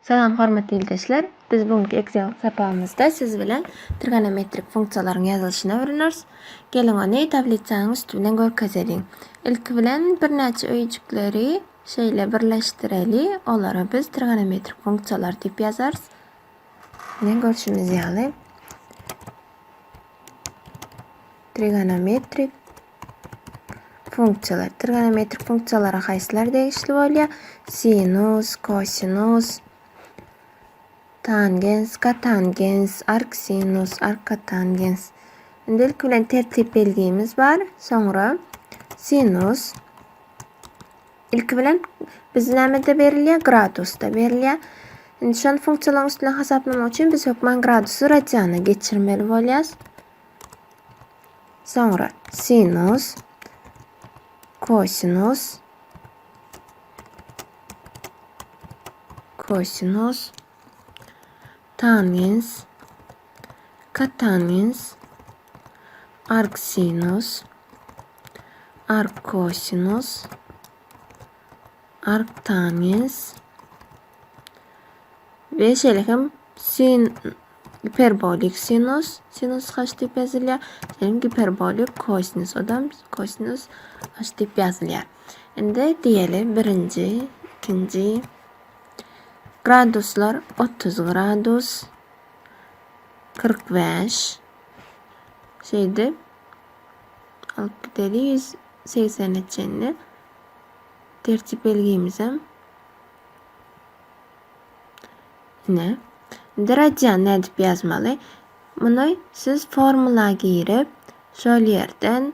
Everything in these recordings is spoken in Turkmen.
Salam hormatly ildeşler. Biz bu günki Excel sapagymyzda siz bilen trigonometrik funksiýalaryň ýazylyşyny öwreneris. Geliň ony tablitsanyň üsti bilen görkezeliň. Ilki bilen birnäçe öýjükleri Şeýle birleşdireli, olara biz trigonometrik funksiýalar diýip ýazarys. Ine görşümiz ýaly trigonometrik funksiýalar. Trigonometrik funksiýalara haýsylar degişli bolýar? Sinus, kosinus, tangens, kotangens, arksinus, arkotangens. Indi ilki bilen tertip belgimiz bar. Soňra sinus Ilki bilen biz nämede berilýär? Gradusda berilýär. Indi şol funksiýalaryň üstüne hasaplamak üçin biz hökman gradusy radiana geçirmeli bolýarys. Soňra sinus, kosinus, kosinus, tangens, katangens, Arksinus, arkkosinus, arktangens we şeýle hem sin giperbolik sinus, sinus kaç diýip ýazylýar, hem giperbolik kosinus, odam kosinus kaç diýip ýazylýar. Indi diýeli birinji, ikinji graduslar 30 gradus, 45 Şeýde alyp gideli 180-e çenli tertip belgimizem. Ne? Indi radian nädip ýazmaly? Muny siz formula girip, şol ýerden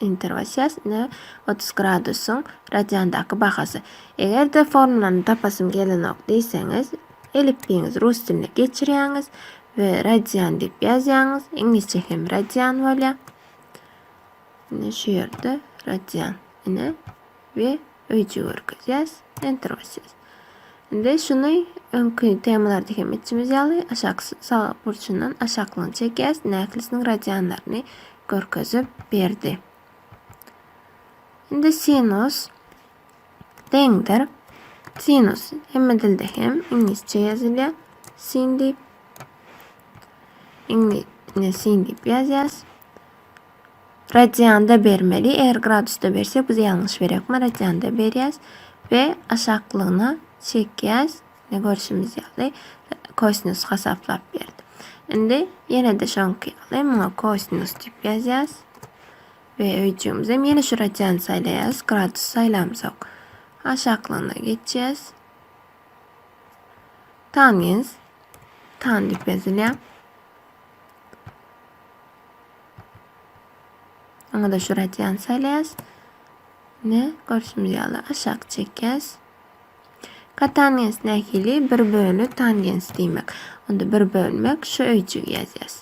Interwasiýas ne otuz gradusyň radiandaky bahasy. Eger-de formulany tapasym gelenok diýseňiz, elipbiýiňizi rus diline geçirýäňiz we radian diýip ýazýaňyz. Iňlisçe hem radian bolýar. Ine şu ýerde radian. Ine we öýjü görkezýäs. Enter basýas. Indi şuny öňki temalarda hem etjimiz ýaly aşak sag burçundan aşaklygyny çekýäs. Näkilisiniň radianlaryny görkezip berdi. Indi sinus deňdir. Sinus hemme dilde hem iňlisçe ýazylýar. Sin diýip. Iňli ne sin diýip ýazýas. Radianda bermeli. Eger gradusda bersek biz ýalňyş berýäris. Emma radianda berýäs we aşaklygyna çekýäs. Ne görşümiz ýaly kosinus hasaplap berdi. Indi ýene-de şoňky ýaly muňa kosinus diýip ýazýas. We öýjümiz hem ýene şu radiant saýlaýas. Gradus saýlamsak aşaklygyna geçýäs. Tangens tan diýip ýazylýar. Oňa da şu radian saýlaýas. Ne görşümiz ýaly aşak çekýäs. Katangens nähili? Bir bölü tangens diýmek. Onda bir bölmek şu öýjügi ýazýas.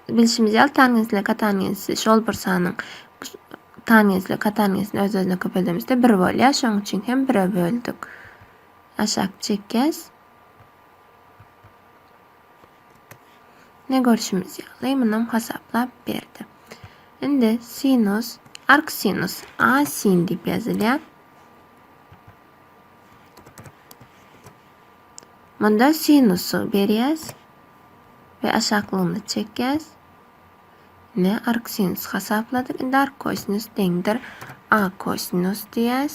Bilşimiz ýaly tangens ile katangensi şol bir sanyň tangens ile katangesini öz özüne köpeldemizde bir bolýar. Şoň üçin hem bire böldük. Aşak çekýäs. Ne görşümiz ýaly, munam hasaplap berdi. Indi sinus, arksinus, a sin diýip ýazylýar. Munda sinusy berýäs we aşaklygyna çekýäs. Ne arksinus hasapladyk. Indi arkosinus deňdir a kosinus diýýäs.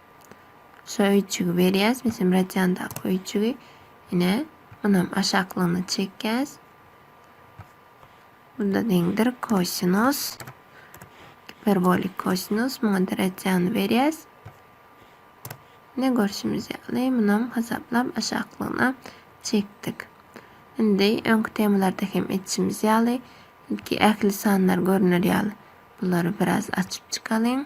Şu öýjügi berýäs, bizim radýandaky öýjügi. Ine, munam aşaklygyna çekýäs. Bunda deňdir kosinus, giperbolik kosinus, muňa da radýany berýäs. Ne görşümiz ýaly, munam hasaplap aşaklygyna çekdik. Indi öňki temalarda hem etişimiz ýaly, ilki ähli sanlar görüner ýaly bulary biraz açyp çykalyň.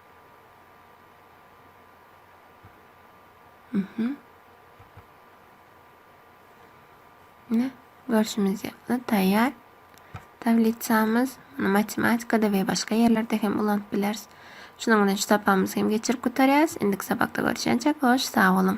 Mhm. Ne? Görüşümüz ýaly taýýar. Tablisamiz matematikada we başga ýerlerde hem ulanyp bileris. Şunuň bilen şu sapagymyzy hem geçirip gutarýarys. Indiki sapakda görüşýänçäk, hoş, sag boluň.